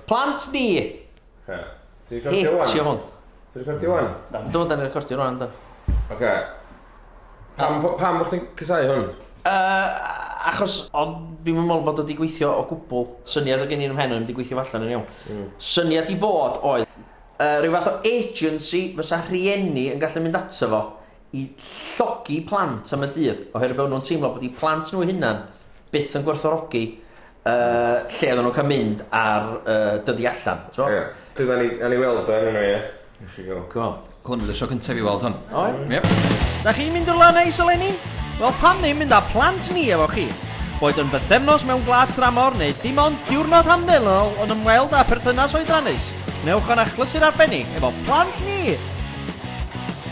Plant ni! Oce. Ti'n recordio wan? Hitio hwn. Ti'n recordio wan? Do, da ni'n recordio rwan, da. Oce. Pam, bo- pam bod chdi'n cysau hwn? Uh, achos ond fi'n meddwl bod o wedi gweithio o gwbl. Syniad o gen i'n ymhen o'n wedi gweithio allan yn iawn. Syniad i fod oedd uh, rhyw fath o agency fysa rhieni yn gallu mynd ato fo i llogi plant am y dydd, oherwydd bod nhw'n teimlo bod eu plant nhw'u hunan byth yn gwerthorogi uh, lle oedden nhw'n cael mynd ar uh, dyddi allan. Ie. Yeah. Dyna ni, ni weld o enw ie. Cool. Hwn oedd y sio cyntaf i weld hwn. O? Yep. Da chi'n mynd o'r lan eis eleni? Wel, pam ddim mynd â plant ni efo chi? Boed yn bythefnos mewn gwlad tramor neu dim ond diwrnod hamddenol yn ymweld â perthynas oedrannus, newch o'n achlysu'r arbennig efo plant ni!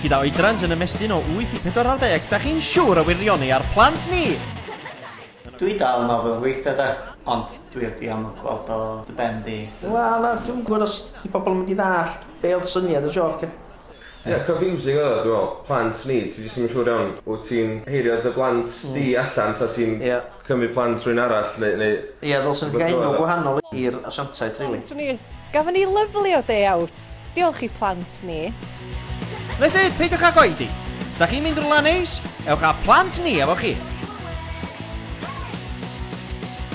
Gyda oedrans yn ymestyn o 8 i 40, da chi'n siwr o wirioni ar plant ni! Dwi dal yn ofel weithia de, ond dwi heb di amlwg gweld o dy ben di sti. Wel nawr dwi'm yn gwbod os 'di pobl yn mynd i ddallt be oedd syniad y jôc ia? Ia, confusing oedd o dwi me'wl, plant ni, ti jyst ddim yn siŵr iawn, wt ti'n heirio dy blant di allan ta ti'n... Ia. Cymru plant rhywun arall neu neu... Ia ddylsen nhw gael enw gwahanol i'r asiantaeth rili. Gafon ni lyfli o day out! Diolch i plant ni. Felly, peidiwch ag oedi! Os da chi'n mynd rwla neis, ewch â plant ni efo chi!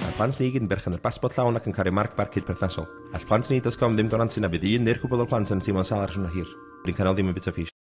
Mae plant ni i gyd yn berchen ar basbort llawn ac yn cario marc barcud perthnasol. All plant ni dot com ddim gorantio na fydd un neu'r cwpwl o plant yn teimlo'n sâl ar y siwrna hir. Blincanol ddim yn bita fish.